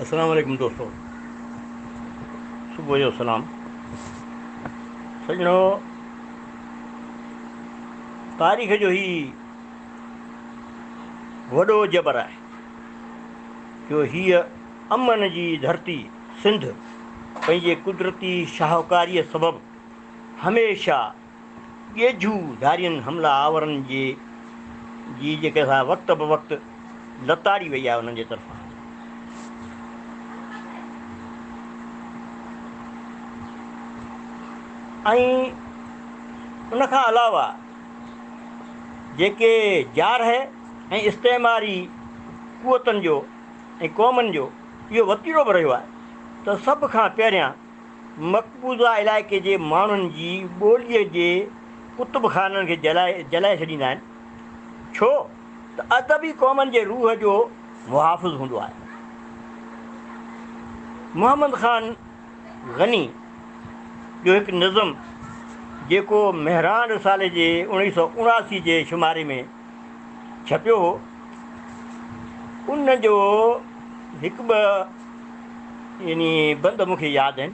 اسلام عليڪم دوستو صبح جو سلام سڄڻو تاريخ جو هي وڏو جبر آهي جو هيء امن جي ڌرتي سنڌ پنهنجي قدرتي شاهوڪاريء سبب هميشه ڳيجهو ڌارين حمله آورن جي جي جيڪي سا وقت بوقت لتاڙي وئي آهي انهن جي طرفان ۽ ان کان علاوه جيڪي جارحه ۽ استعماري قوتن جو ۽ قومن جو اهو وتيرو به رهيو آهي ته سڀ کان پهريان مقبوضه علائقي جي ماڻهن جي ٻوليء جي ڪتب خانن کي جلائي ڇڏيندا آهن، ڇو ته ادب ئي قومن جي روح جو محافظ هوندو آهي. محمد خان غني جو هڪ نظم جيڪو مهراڻ رسالي جي اوڻيهه سؤ اڻاسي جي شماري ۾. ڇپيو هو، ان جو هڪ ٻه يعني بند مون کي ياد آهن.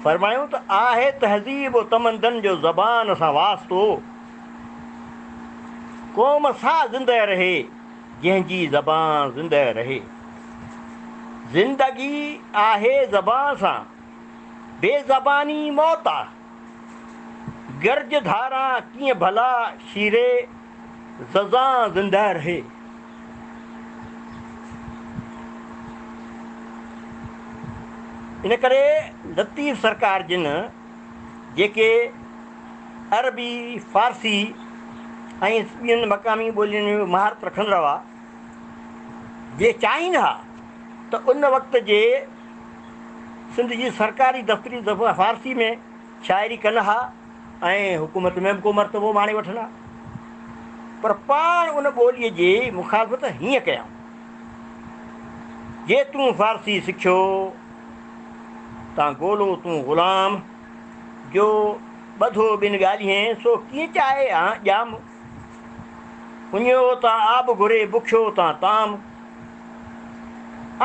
فرمايو ته آهي تهذيب و تمدن جو زبان سان واسطو، قوم سا زنده رهي، جنهن جي زبان زنده رهي. زندگي آهي زبان سان، بي زباني موت آ. گرج ڌاران ڪيئن ڀلا شيري ززان زندهه رهي. ان ڪري لطيف سرڪار جن جيڪي عربي، فارسي ۽ ٻين مقامي ٻولين ۾ مهارت رکندڙ هئا، جي چاهين ها ته ان وقت جي سنڌ جي سرڪاري دفتريون دفعا فارسي ۾ شاعري ڪن ها ۽ حڪومت ۾ به ڪو مرتبو ماڻي وٺن ها پر پاڻ ان ٻوليء جي مخالفت هيئن ڪيائون جي تون فارسي سکيو تان گولو تون غلام جو ٻڌو ٻن ڳالهين سو ڪيئن چاهي ها ڄام پڃيو تان آب گهري، بکيو تان طعام.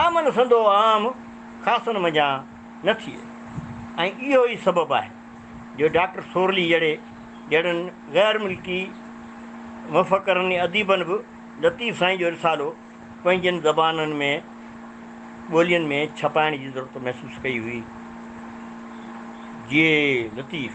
آمن سندو عام خاصن منجهان نه ٿئي ۽ اهو ئي سبب آهي جو ڊاڪٽر سورلي جهڙي جهڙن غير ملڪي مفڪرن ۽ اديبن به لطيف سائين جو رسالو پنهنجين زبانن ۾ ٻولين ۾ ڇپائڻ جي ضرورت محسوس ڪئي هئي. جي لطيف.